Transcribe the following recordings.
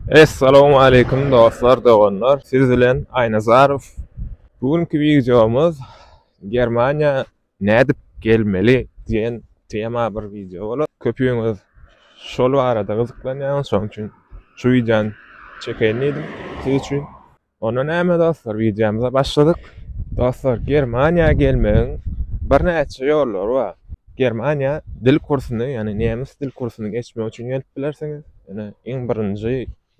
Essalamu aleýkum dostlar, doganlar. Siz bilen Aýnazarow. Bu günki wideomyz Germaniýa nädip gelmeli diýen tema bir wideo bolar. Köpüňiz şol barada gyzyklanýaňyz, şonuň üçin şu wideony çekeýin diýdim siz üçin. Onda näme dostlar, wideomyza başladyk. Dostlar, Germaniýa gelmegiň birnäçe ýollary bar. Germaniýa dil kursuny, ýagny nemes dil kursuny geçmek üçin gelip bilersiňiz. Ýöne iň birinji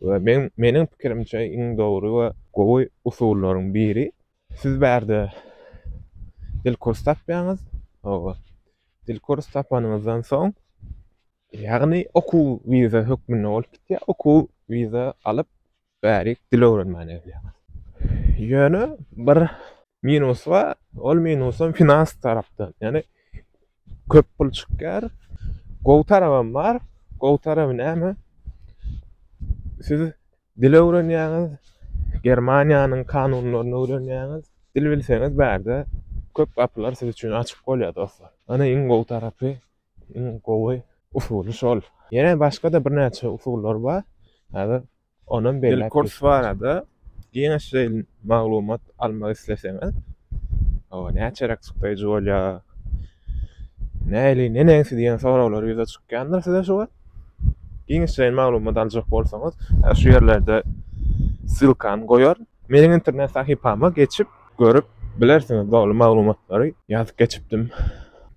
we men meniň pikirimçe iň dogry we gowy usullaryň biri. Siz bärde dil kurs tapýaňyz. Hawa. Dil kurs tapanyňyzdan soň, ýagny okuw wiza hökmünde bolup gitýär. Okuw wiza alyp, Bärik dil öwrenmäne gelýär. Ýöne bir minusy bar, ol minusam finans tarapdan. Ýagny köp pul çykýar. Gowy tarabam bar. Gowy taraby näme? Siz dil öwrenýäňiz, Germaniýanyň kanunlaryny öwrenýäňiz. Dil bilseňiz bärde köp gapylar siz üçin açyk bolýar dostlar. Ony iň gowy tarapy. Iň gowy usuly şol. Ýene başga-da birnäçe usullar bar. Häzir onam belläp geçmän. Kurs barada giňişleýin maglumat almak isleseňiz, oba näçeräk çykdaýjy bolýar? Näli, neneňsi diýen soraglar ýüze çykýandyr size şu wagt. Giňişleýin maglumat aljak bolsaňyz, şu ýerlerde ssylkany goýaryn. Meniň internet sahypama geçip, Görüp bilersiňiz doly maglumatlary ýazyp geçipdim.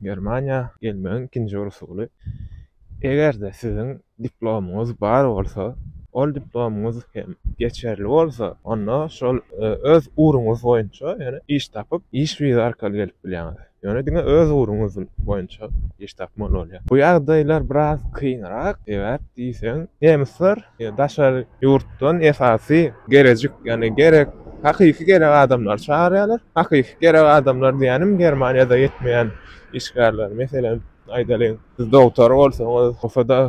Germaniýa gelmegiň ikinji usuly, eger-de siziň diplomyňyz bar bolsa, ol diplomyňyz hem geçerli bolsa, onda şol öz ugruňyz boýunça ýöne iş tapyp, iş wiza arkaly gelip bilýäňiz. Ýöne diňe öz ugruňyz boýunça iş tapmaly bolýar. Bu ýagdaýlar biraz kynrak, sebäp diýseň, nemisler Daşary ýurtdan esasy gerejik, ýagny gerek, hakyky gerek adamlary çagyrýarlar. Hakyky gerek adamlar diýýänim Germaniýada ýetmeýän işgärler. Meselem, aýdalyň, siz dogtor bolsaňyz, bolsa-da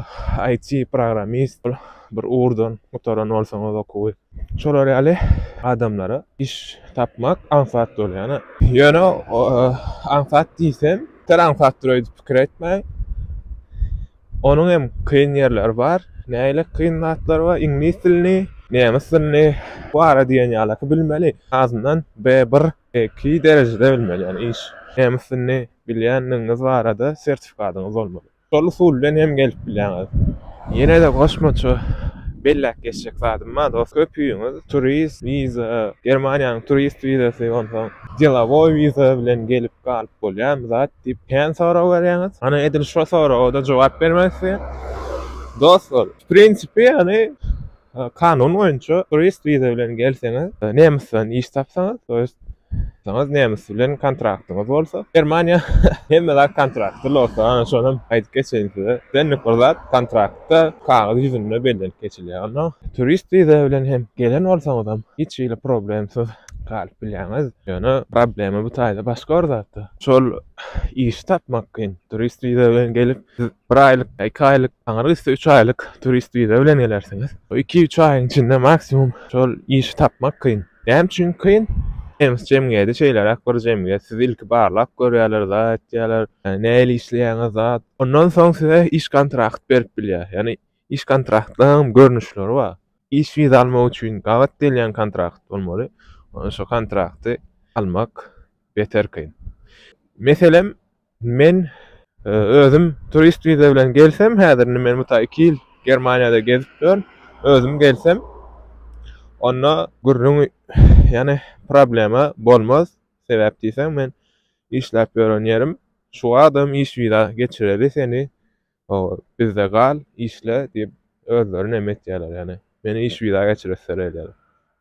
IT programmist bolup, bir ugurdan gutaran bolsaňyz okuwy, şolar ýaly adamlara iş tapmak aňsat bolýar. Ýöne aňsat diýsem, tel aňsatdyr öýdüp pikir etmäň. Onuň hem kyn ýerleri bar. Nähili kyn zatlar bar? Iňlis dilini, nemes dilini bu ara diýen ýaly ki bilmeli. Azyndan B1, B2 derejede bilmeli. Ýani iş, nemes dilini bilýänligiňiz barada sertifikadyňyz bolmaly. Şol usul bilen hem gelip bilýäňiz. Ýene-de goşmaça belläp geçjek zadym bar. Köpüňiz turist wiza, Germaniýanyň turist wizasy onsoň, Delowoý wiza bilen gelip galyp bolýamy zat diýip kän sorag berýäňiz. Hany edil şo soraga-da jogap bermezsi. Dostlar, w prinsipi ýagny kanun boýunça turist wiza bilen gelseňiz, nemysdan iş tapsaňyz, to ýest tapsaňyz, nemis bilen kontraktyňyz bolsa, Germaniýa hemme zat kontraktda lota, ana şonam aýdyp geçeýin size. Islendik bir zat kontraktda kagyz ýüzünde bellenip geçilýär. Onda turist wiza bilen hem gelen bolsaňyzam hiç hili problemsiz. galyp bilýäňiz. Ýöne problema bu taýda başga bir zatda. Şol işi tapmak kyn. Turist wiza bilen gelip, siz bir aýlyk, iki aýlyk, aňry gitse üç aýlyk turist wiza bilen gelersiňiz. Bu iki-üç aýyň içinde maksimum şol işi tapmak kyn. Näme üçin kyn? Nemes jemgyýeti şeýleräk bir jemgyýet. Sizi ilki barlap görýärler, zat etýärler. Nähili işleýäňiz, zat. Ondan soň size iş kontrakt berip bilýär. Ýagny Iş kontraktlarynyň görnüşleri bar. Iş wiza almak üçin gabat gelýän kontrakt bolmaly. Ony şo kontrakty almak beter kyn. Meselem, men özüm turist wiza bilen gelsem, häzir indi men muta iki ýyl Germaniýada gezip ýörün, özüm gelsem, onda gürrüň, ýagny problema bolmaz. Sebäp diýseň, men işläp ýören ýerim, şu adym iş wiza geçireli seni Olar, Bizde gal, işle diýip, özleri näme etýärler, ýagny meni iş wiza geçir ösdür edýärler.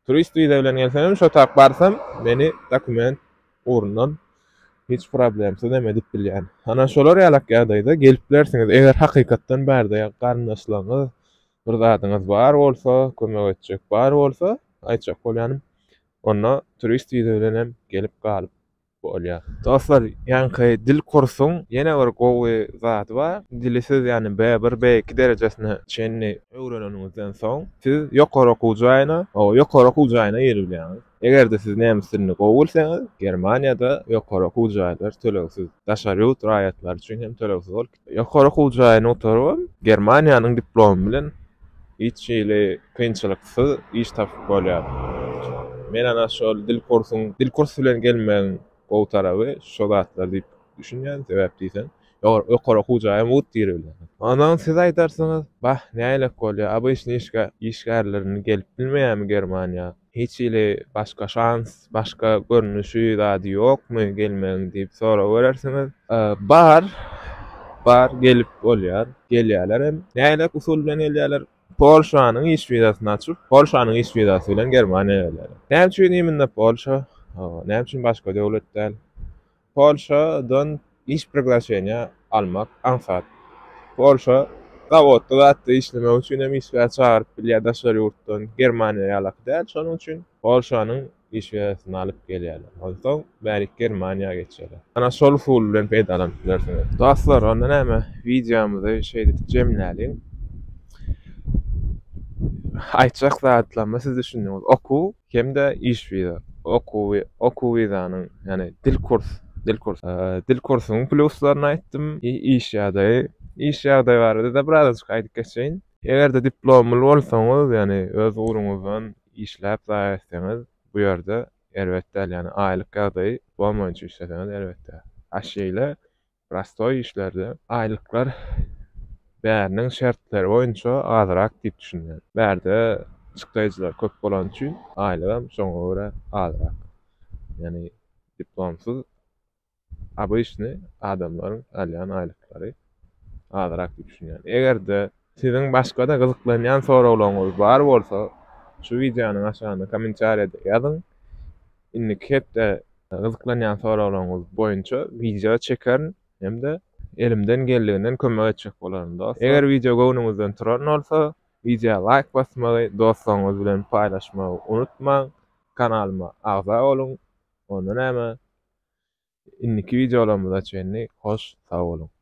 Turist wiza bilen gelsem, şo tak barsam, meni dokument ugrundan hiç problemsiz hem edip bilýän. Ana şolar ýalak ýagdaýda gelip bilersiňiz, eger hakykatdan bärde garyndaşlaryňyz, bir zadyňyz bar bolsa, kömek etjek bar bolsa, aýtjak bolýanym, onda turist wiza bilen hem gelip galyp bolýar. Dostlar ýaňky dil kursuň ýene bir gowy zady bar. Dili siz ýani B1, B2 derejesine çenli öwreneniňizden soň siz ýokary okuw jaýyna, oba ýokary okuw jaýyna giribilýäňiz. Eger-de siz nemes dilini gowy bilseňiz Germaniýada ýokary okuw jaýlar tölegsiz. Daşary ýurt raýatlary üçin hem tölegsiz ol. Ýokary okuw jaýyny gutarybam, Germaniýanyň diplomy bilen hiç hili kynçylyksyz iş tapyp bolýar. Men ana şol dil kursuň, dil kursy bilen gelmegiň gowy taraby şo zatlar diýip düşünýän. Sebäp diýseň, ýokary okuw jaýam wut giribilýär. Ondan siz aýdarsyňyz, Bah, nälelik bolýar, ABŞ-nyň işgärlerini gelip bilmeýärmi Germaniýa? Hiç hili başga şans, başga görnüşi zady ýokmy gelmegiň diýip sorawerersiňiz. Bar, bar gelip bolýar, gelýärler hem. Nähilek usul bilen gelýärler? Polşanyň iş wizasyny açyp, Polşanyň iş wizasy bilen Germaniýa gelýärler. Näme üçin imенно Polşa? Näme üçin başga döwlet däl? Polşadan iş priglaşeniýa almak aňsat. Polşa zawodda zatda işlemek üçin hem işgär çagyryp bilýär daşary ýurtdan, Germaniýa ýalaky däl. Şonuň üçin Polşanyň işgärsini alyp gelýärler. Onsoň bärik Germaniýa geçýärler. Ana şol usul bilen peýdalanyp bilersiňiz. Dostlar, onda näme, wideomyzy şeýdip jemläliň. Aýtjak zatlamy siz düşündiňiz. Okuw hem-de iş wiza, okuwy, okuw wizanyň, ýagny dil kurs, dil kurs, dil kursunyň plýuslaryny aýtdym, iş ýagdaýy, iş ýagdaýy barada-da birazajyk aýdyp geçeýin. Eger-de diplomly bolsaňyz, ýagny öz ugruňyzdan işläp zaýa etseňiz, bu ýerde erbet däl, ýagny aýlyk ýagdaýy bolmaýjy, işleseňiz erbet däl. Aşeýle Prostoý işlerde aýlyklar bäriniň şertleri boýunça azrak diýip düşünýän. Bärde çykdaýjylar köp bolany üçin aýlygam şoňa görä azrak. Ýagny diplomsyz obyçny adamlaryň alýan aýlyklary azrak diýip düşünýän. Eger-de Siziň başga-da gyzyklanýan soraglaryňyz bar bolsa, şu wideonyň aşagynda kommentariýada ýazyň. Indiki hepde gyzyklanýan soraglaryňyz boýunça wideo çekerin hem-de elimden geldiginden kömek etjek bolaryn dostlar. Eger wideo göwnüňizden turan bolsa, wideoa laýk basmagy, dostlaryňyz bilen paýlaşmagy unutmaň. Kanalyma agza boluň. Onda näme? Indiki wideolarymyza çenli hoş sag boluň.